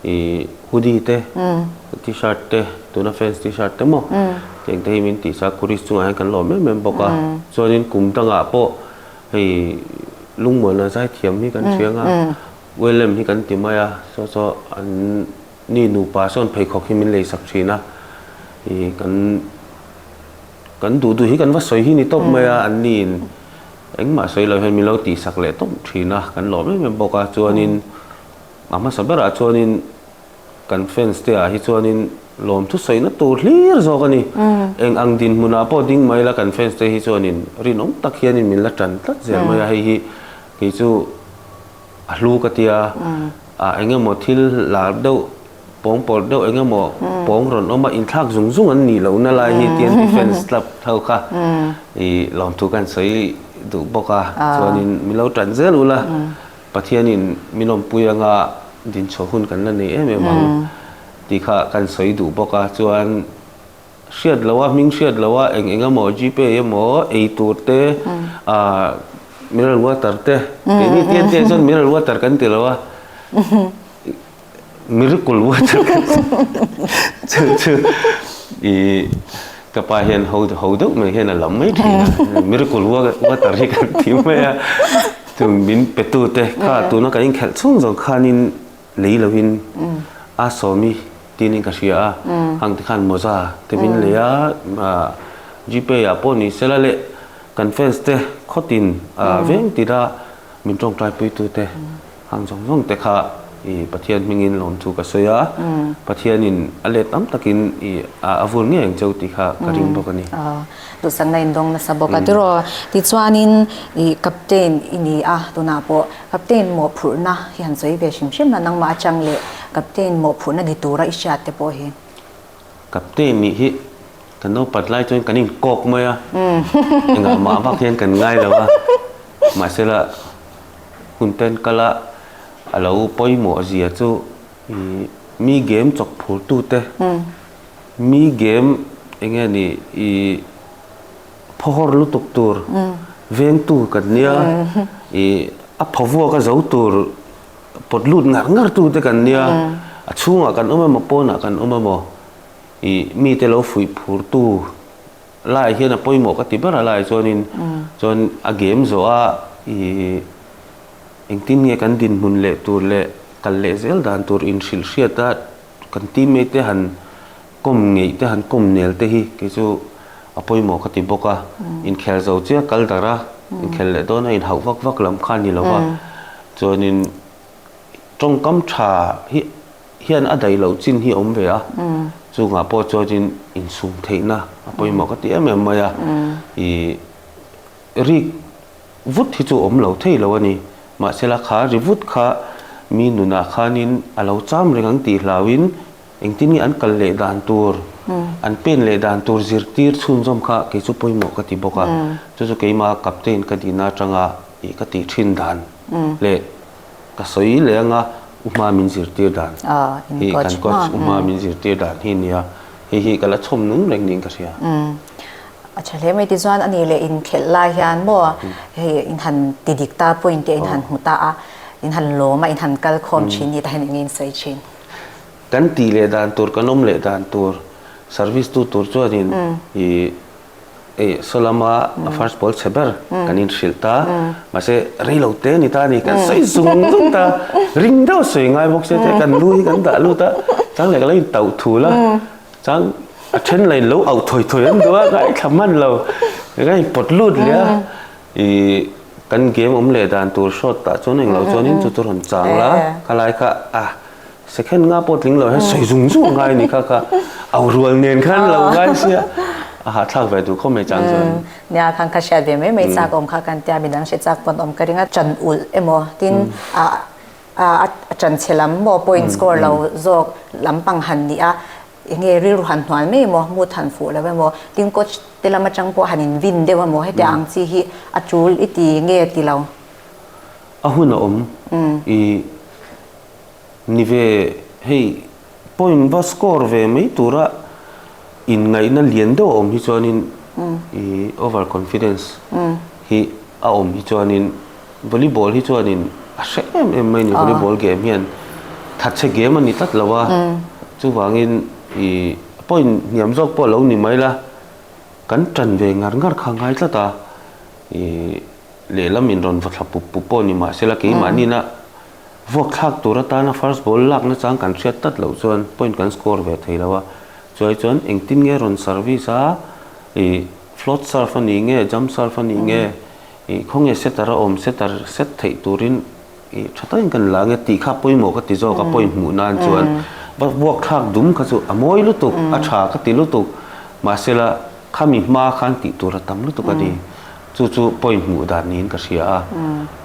ih hoodie te tshirt te tuna fans tshirt te maw tiang te hi min tih sa khuris chungah hian kan lawm em em bawk a chuanin kum tangah pawh hei lungmawina zai thiam hi kan hria anga wellem hi kan ti mai a saw saw an ni nupa sawn pheikhawk hi min lei sak thin a ih kan Kan duhduh hi kan va sawi hi ni tawp mai a an ni in engmah sawi lo hian min lo tihsak leh tawp thin a kan lawm em em bawk a chuanin a hmasa berah chuanin kan fans te ah hi chuanin lawm thu sawi na tur hlir zawk a ni eng ang dinhmunah pawh ding mai ila kan fans te hi chuanin rinawm tak hianin min la tan tlat zel mai a hei hi kei chu a hlu ka tia a eng emaw thil lar deuh Pawng pawlh deuh eng emaw pawng rawn awm a inthlak zung zung an nih lohna lai hi TNT fans club ho kha i lawmthu kan sawi duh bawk a, chuanin min lo ṭan zel ulh a, Pathianin min lawmpui anga din chhuah hun kan la nei em em ang tih kha kan sawi duh bawk a, chuan hriat loh a hming hriat loh a eng eng emaw GPay emaw ei tur te ah mineral water te keini TNT ah chuan mineral water kan ti lo a. miracle water kan tih chu chu i ka pa hian ho ho deuh mai hian a lam mai thin a miracle water hi kan tih mai a chu min pe tu te kha tuna kan in khelh chhung zawng khan in lei lo in a sawmi tin in ka hria a hang te khan mawza te min lei a gpay ah pawh ni sela leh kan fans te khawt in veng tih a Min tawngtaipui-tute ang zawng zawng te kha i Pathian hmingin lawm thu ka sawi a, Pathianin a let tam takin i a vur ngei ang cheu tih kha ka ring bawk a ni. Aw, duhsakna in dawng nasa bawk a. Tiraw, tichuanin i Captain i ni a, tunah pawh Captain mawhphurhna hi han sawi ve hrim hrim a, nangmah a chang leh Captain mawhphurhna ni tura i hriat te pawh hi. Captain nih hi kan lo pat lai chuan kan inkawk mai a, engah mah vak hian kan ngai lo a, mahsela hun ten kala a lo pawimawh zia chu i mi game chawk phurtute, mi game eng nge ni i phawhawr lutuk tur vengtu kan nia, i a phawvuak a zo tur. pawt lut ngar ngar tu te kan nia a chhungah kan awm emaw pawnah kan awm emaw ih mite lo fuih phur tu laiah hian a pawimawh ka ti ber a laiah chuanin chuan a gem zawh a ih engtin nge kan dinhmun leh tur leh kal leh zel dan tur inhrilh hriata kan teammate te han kawm ngeih te han kawm nel te hi kei chu a pawimawh ka ti bawk a inkhelh zo chiah kal dar a inkhelh leh dawn a inhauh vak vak lam kha a ni lo va chuanin tawngkam tha hi hian a daih loh chin hi a awm ve a chungah pawh chuanin insum theihna a pawimawh ka ti em em mai a i rik vut hi chu a awm lo thei lo a ni mahsela kha ri vut kha mi nunah khanin a lo cham reng ang tih hlauin Engtin nge an kal leh dan tur, an pen leh dan tur zirtir chhunzawm kha kei chu pawimawh ka ti bawk a, chu chu keima captain ka dihna atanga ih ka tih thin dan leh ka sawi leh ang a, u hma min zirtir dan hi kan coach u hma min zirtir dan hi a nia, hei hi ka la chhawm nung reng niin ka hria. A tha hle mai tichuan ani leh inkhelh lai hian maw hei in han ti dik ta point te in han hmu ta a, in han lawm a, in han kal khawm thin ni ta hian eng nge in sawi thin? Kan tih leh dan tur, kan awm leh dan tur, service tu tur chuanin ih saw lama first pawl chhe ber kan inhrilh ta. Mahse rei lo te a ni ta a ni, kan sawi zung zung ta. Ring deuh sawi ngai bawk se te kan lu hi kan dah lut a, chang leh ka lo in tauh thu la. Chang a then la in lo auh thawi thawi an duh a, ngaithla hman lo, ka in pawt lut leh a. I kan game awm leh dan tur shot tah chuan eng lo chuan in chu chu rawn chang la kha lai kha a second nga pawh tling lo hian sawi zung zung a ngai ni kha kha au rual nen kha an lo ngai sia a hahthlak ve tur khawp mai chang chuan in nia khan kha hriat ve mai mai chak awm kha kan tia mi dang hre chak pawn awm ka ring a chan ulh emaw tin a a a chan chhe lam maw point score lo zawk lampang han ni a. Enge rilru han hnual mai emaw, hmut han fuh lo emaw, tin coach te lam atang pawh han invin deuh emaw hetiang ang chi hi a tul i ti nge ti lo. A hun a awm i ni ve hei point va score ve mai tura inngaihna lian deuh a awm hi chuanin i over confidence hi a awm hi chuanin Volleyball hi chuanin a hreh em em mai a ni. Volleyball game hian thatchhe game a ni tlat lo a. Chuvangin ih point hniam zawk pawh a lo ni mai la, kan tan ve ngar ngar kha a ngai tlat a. Ih lehlam in rawn va thla pup pup pawh a ni mahse la, keimahnihna vuakthlak tur atana first ball lak nachang kan hriat tlat loh chuan point kan score ve thei lo a. Chuai chuan engtin nge rawn service a, ih float serve a nih nge, jump serve a nih nge. ih khawnge setter a awm setter set theih turin ih tha tawin ka la ange tih kha pawimawh ka ti zawk a point hmuh nan chuan buakthlak dum kha chu a mawi lutuk a tha ka ti lutuk mahsela khami hma khan tih tur a tam lutuk a ni chu chu point hmuh dan niin ka hria a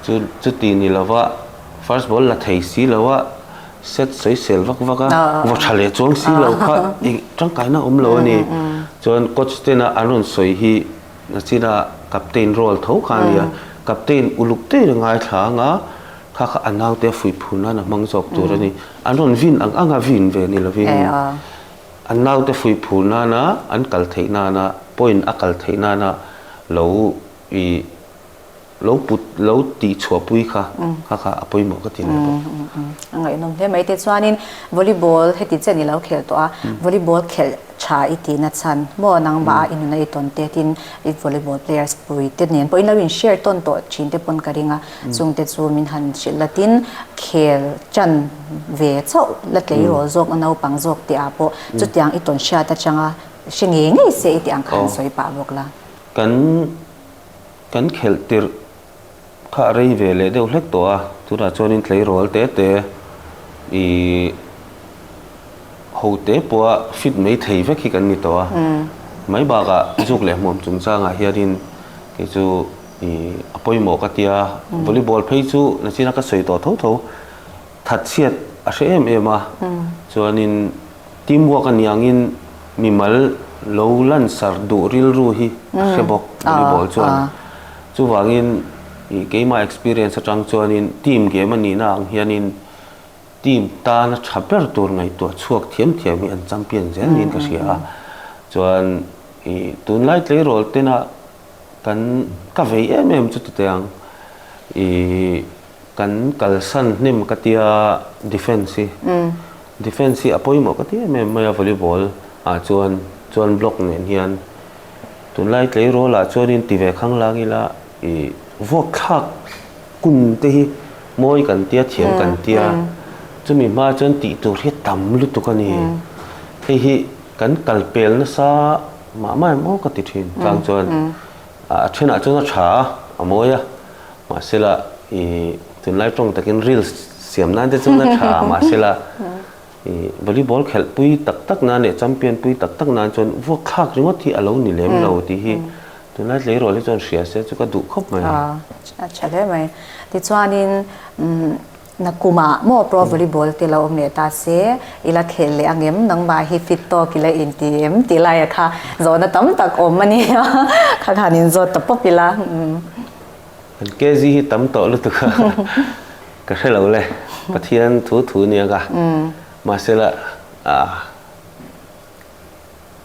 chu chuti ni lova first ball la thei si lo a set soisel vak vak a vaw tha leh chuang si lo kha ih tangkaina awm lo a ni chuan coach tena an rawn sawi hi. Nachina captain role tho kha a nia. Captain uluk daih a ngaithla anga kha kha a naute a fuih phur nan a hmang zawk tur a ni. An rawn vin ang anga vin ve ni lovin an naute fuih phur nana an kal theih nana point a kal theih nana lo i Lo put, lo tih chhuah pui kha, kha kha a pawimawh ka ti leh bawk. A ngaihnawm hle mai. Te chuanin volleyball heti chiah ni lo khel tawh a, volleyball khelh tha i ti na chhan. Maw a nang mah a i nun a i tawn te tin i volleyball players pui te nen pawh in lo in share tawn tawh thin te pawn ka ring a, chung te chu min han hrilh la tin khel tan ve chauh la tleirawl zawk na naupang zawk te ah pawh chutiang i tawn hriat atang a, hre ngei ngei se i tih ang kha an sawi pah bawk la. Kan. Kan khelh tirh kha a rei ve leh deuh hlek tawh a, tunah chuanin tleirawl te te ihh ho te pawha fit mai thei vek hi kan ni tawh a, mai bakah zuk leh hmuam chungchangah hianin kei chu ihh a pawimawh ka tia, volleyball phei chu nachina ka sawi tawh tho tho, that chhiat a hre em em a, chuanin. Teamwork a niangin mimal lo lansar duh rilru hi a hre bawk volleyball chuan. Chuvangin keimah experience atang chuanin team game a nihna ang hianin team tan a tha ber tur ngaihtuah chhuak thiam thiam hi an champion zel niin ka hria a. Chuan i tunlai tleirawl tena kan ka vei em em chu tute ang i Kan kalsan hnem ka tia defence hi defence hi a pawimawh ka ti em em mai a volleyball ah chuan chuan block nen hian tunlai tleirawl ah chuanin ti ve khang lang ila i vawkthlak kun te hi mawi kan tia thiam kan tia chumi hma chuan tih tur hi tam lutuk a ni hei hi kan kal pel nasa mah mai maw ka ti thin tlang chuan A ṭhenah chuan a ṭha a, a mawi a. Mahsela, i tunlai ṭawng takin reels siam nan te chuan a ṭha a. Mahsela, i volleyball khelh pui tak tak nan leh champion pui tak tak nan chuan vuakthlak ringawt hi a lo ni lem lo tih hi tunlai tleirawl hi chuan a hria se a, chu ka duh khawp mai. A ṭha hle mai. Tichuanin umm. Na kum ah maw pro volleyball te lo awm leh ta se, i la khel leh angem, nangmah hi fit tawk i la inti em tih laia kha zawhna tam tak awm a nia, kha khan in zawt ta pawp ila umm. Kan kezi hi tam tawh lutuk a, ka hre lo le, Pathian thu thu nia ka, mahsela ah.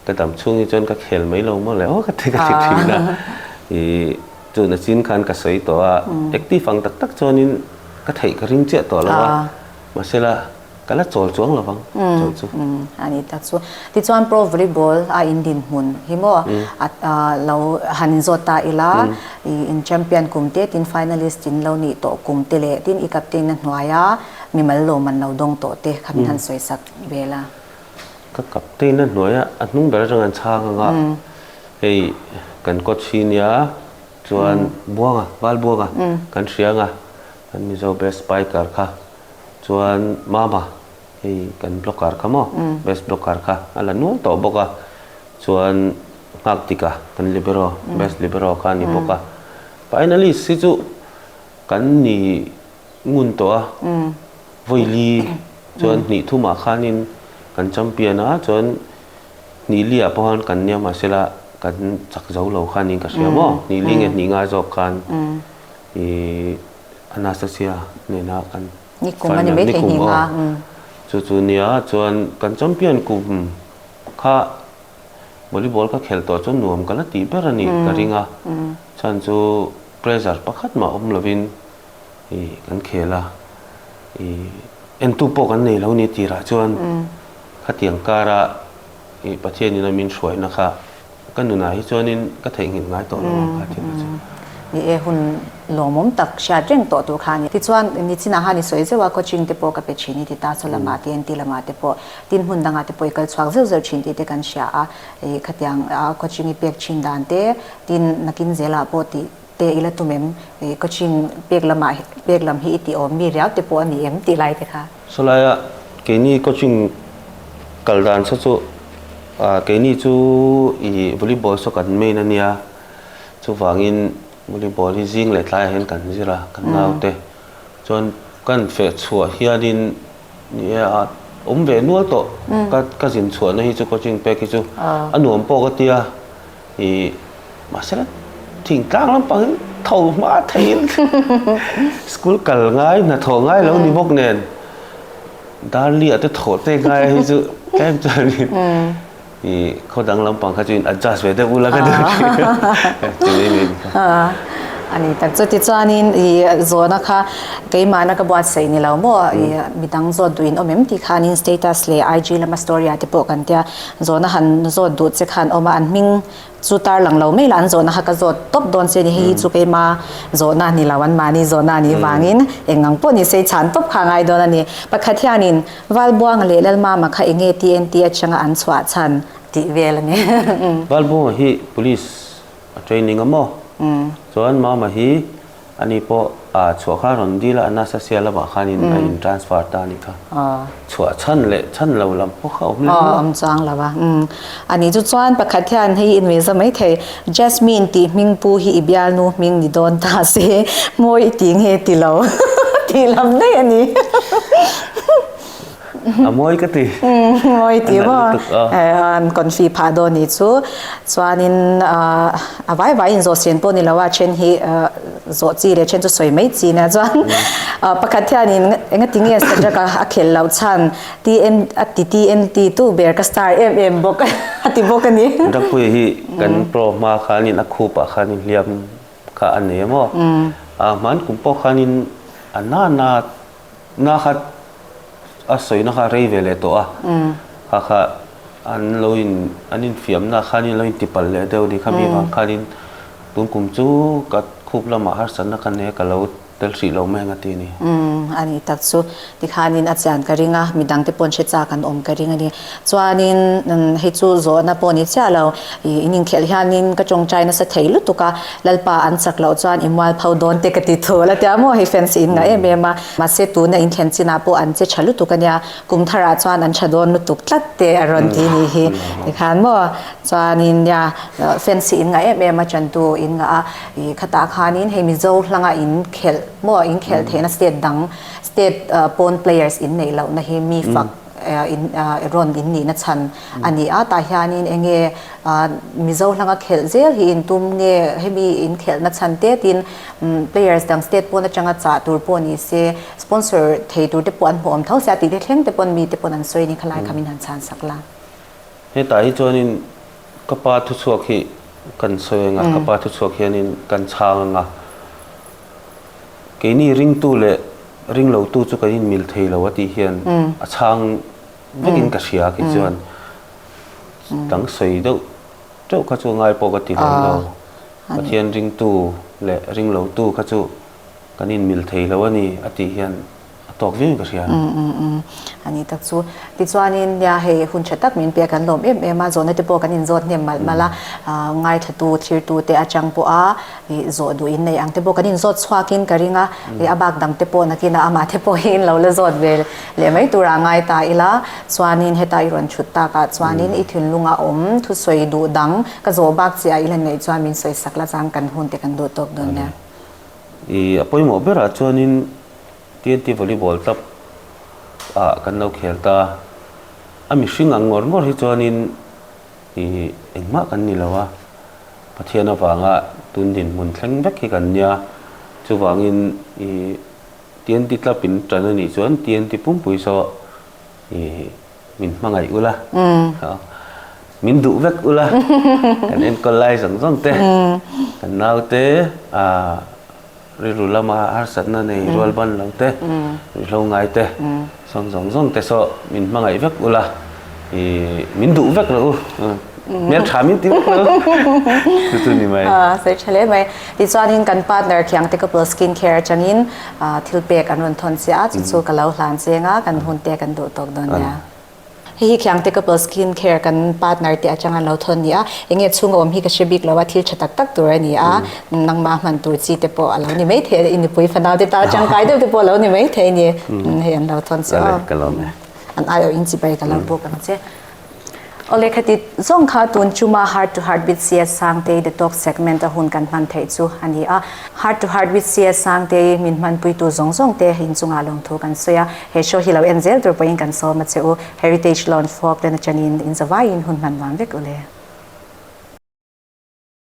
Ka dam chhung hi chuan ka khel mai lo mawle aw ka ti ka ti thin a i tuna chin khan ka sawi tawh a active ang tak tak chuanin ka theih ka ring chiah tawh lo a mahsela ka la chawl chuang lo vang chaw chu. A ni tak chu tichuan pro volleyball a in din hmun hi maw a lo han in zawt ta ila i in champion kum te tin finalist in lo nih tawh kum te leh tin i captain a hnuaia mimal lawm an lo dawng tawh te kha min han sawisak vel a. Ka captain a hnuaia a hnung ber atanga an chhang anga hei kan coach hi nia chuan Buanga Bal Buanga kan hria anga kan Mizo best spiker kha chuan Mama hei kan blocker kha maw best blocker kha a la nual tawh bawk a chuan Nghaktika kan libero best libero kha a ni bawk a finalist hi chu kan ni Ngun tawh a, Vawili chuan hnih thu mah khanin kan champion a, chuan hnih li ah pawh khan kan nia mahse la kan chak zo lo khanin ka hria maw? Hnih li nge hnih ngai zawk khan i Anastasia nena kan final nikum aw, chu chu nia chuan kan champion kum kha volleyball ka khel tawh chuan nuam ka la tih ber a ni ka ring a, chhan chu pressure pakhat mah awm lovin. i kan khel a, i entu pawh kan nei lo ni tirah chuan khatiang kara i Pathianin a min hruaina kha ka nunah hi chuanin ka theih nghilh ngai tawh lo ang kha tia ka cheu. Ni e, hun lawmawm tak hriat reng tawh tur kha a ni. Tichuan, ni chinah han i sawi zeuh a, coaching te pawh ka pe thin i ti ta, Chawla mah te, NT lamah te pawh, tin hmun dangah te pawh i kal chhuak zeuh zeuh thin tih te kan hria a, i khatiang coaching i pek thin dan te, tin nakin zelah pawh tih Te ila tum em? Ih Kachin pek lama pek lam hi i tih awm mi riau te pawh a ni em? Tih lai te kha. Sawlaia, keini Kachin kal dan se chu ah keini chu ih volleyball saw kan main a nia, chuvangin volleyball hi zing leh tlai ah hian kan zir a, kan ngau te. Chuan kan feh chhuah hianin ni e ah awm ve nual tawh ka ka zin chhuahna hi chu Kachin pek hi chu a nuam pawh ka tia. i mahsela thingtlang lampangin tho hma theihin school kal ngai hnathawh ngai lo ni bawk nen darli ate thaw te ngai hi chu tlem chuan i i khodang lampang kha chu in adjust ve deuh ula ka deuh chumi min kha ani tak chuti chuanin i zawna kha keimahna ka buat saih ni lo maw i midang zawt duhin awm em tih khanin status leh IG lama story ah te pawh kan tia Zawhna han zawt duh che khan awm a, an hming chu tar lang lo mai la, an zawhna kha ka zawt tawp dawn se ni, hei hi chu keima zawhna ni lo, an mahni zawhna ni vangin eng ang pawh ni sei chhan tawp kha a ngai dawn a ni. Pakhat hianin Valbuanga leh Lalmama kha enge ti en ti atanga an chhuah chhan tih vel a ni. Valbuanga hi police a training a maw? Chuan Mama hi. Ani pawh a chhuah kha rawn dil a, a nasa sia lamah khanin a in transfer ta a ni kha. Chhuah chhan leh chhan lo lam pawh kha awm leh mual a. Aw awm chuang lo va. Umm. A nih chu chuan pakhat hian hei i nuih za mai thei, Jasmine tih hming pu hi i bialnu hming ni dawn ta se, maw i ti nge ti lo tih lam daih a ni. a mawi ka ti mawi ti bo an kon fi pha dawn ni chu chuanin a vai vai in zawh sian pawh ni lo a then hi zawh chi leh then chu sawi mai chi nia chuan pakhat hianin enga ti nge subject a a khelh loh chhan tm a ti tmt tu ber ka star em em bawk a ti bawk a ni rapui hi kan pro hma khanin a khup ah khanin hliam kha a nei a maw a hman kum pawh khanin a nana Hna khat a sawina kha rei ve leh tawh a, kha kha an lo in an infiamna khanin lo inti palh leh deuh a ni, khami vang khanin tun kum chu ka khup lamah harsatna ka nia ka lo tel hrih loh mai ang a ti a ni. A ni tak chu, tikhanin a chian ka ring a, midangte pawh an hre chak an awm ka ring a ni. Chuanin hei chu zawhna pawh ni chiah lo. I in inkhelh hianin ka tawngtai nasa thei lutuk a, Lalpa an chak loh chuan i mual pho dawn teh ka ti thu. La tia maw hei fans hi in ngah em em a, mahse tuna in thlen chinah pawh an che tha lutuk a nia, kum tharah chuan an tha dawn lutuk tlat teh a rawn ti ni hi tikhan maw. Chuanin nia fans hi in ngah em em a, chantu in ngah a, i khatah khanin hei Mizo hlanga in khelh maw in khelh theihna state dang state pawn players in neih lohna hi mi fak, Eraw'n in nihna chhan a ni a, tah hianin enge Mizo hlanga khelh zel hi in tum nge, hemi in khelhna chhan te tin players dang state pawn atanga chah tur pawh ni se, sponsor thei tur te pawh an hmuhawm tho se a, tih te thleng te pawn mi te pawn an sawi ni kha lai kha min han chhan sak la. Hetah hi chuanin ka pa thuchhuak hi kan sawi anga, ka pa thuchhuak hianin kan chhang anga, Keini ringtu leh ringlotu chu kan inmil thei lo a tih hian a chhang vekin ka hria khi chuan dang sawi deuh deuh kha chu ngai pawh ka ti reng lo. Pathian ringtu leh ringlotu kha chu kan inmil thei lo a ni a tih hian. a tawk viau ka hria. Umm umm umm a nih tak chu. Tichuanin nia hei hun tha tak min pe kan lawm em em a, zawhna te pawh kan inzawt hnem malh malh a, aah ngaithatu thirtu te atang pawh a ih zawh duh in nei ang te pawh kan inzawt chhuak in ka ring a, ih a bak dang te pawh nakin a amah te pawh hi in lo la zawt ve leh mai tur a ngai ta ila, chuanin heta i rawn thut tak ah chuanin i thinlung a awm thusawi duh dang ka zawh bak chiah ah i la neih chuan min sawi sak la chang kan hun te kan duh tawk dawn nia. Ih a pawimawh berah chuanin. tnt volleyball club ah kan lo khel ta a mihring ang ngawr ngawr hi chuanin ih engmah kan ni lo a pathian avanga tun dinhmun thleng vek hi kan nia chuvangin ih tnt club in tan anih chuan tnt pumpui saw ih min hmangaih ula min duh vek ula kan enkawl lai zawng zawng te kan naute ah Rilru lama harsatna nei rual ban lo te, ruihhlo ngai te, sawn zawng zawng te saw min hmangaih vek ula, min duh vek lo u, hmeltha min ti vek lo u, chu chu ni mai. Sawi tha hle mai. Tichuanin kan partner thiang te Couple Skin Care atangin thilpek an rawn thawn chiah a, chu chu ka lo hlan cheng a, kan hun te kan duh tawk dawn nia. Hei hi Thiangte Couple Skin Care kan partner te atanga an lo thawn ni a, eng nge chhung a awm hi ka hre bik lo a, thil tha tak tak tur a ni a, nangma hman tur chi te pawh a lo ni maithei a, i nupui fanau te tang tangkai deuh te pawh a lo ni maithei a ni, hei an lo thawn chu an aiawh in chi bai ka lo bawk a ni che. Aw lehkha ti zawng kha tun chuma Heart to Heart with CS Sangtei Detox Segment a hun kan hman theih chu a ni a, Heart to Heart with CS Sangtei min hmanpuitu zawng zawng te inchungah lawmthu kan sawi a, He show hi lo en zel tur pawiin kan sawm a che u, Heritage Lawn Folk ten aṭanin inzavaiin hun hman vang vek u le.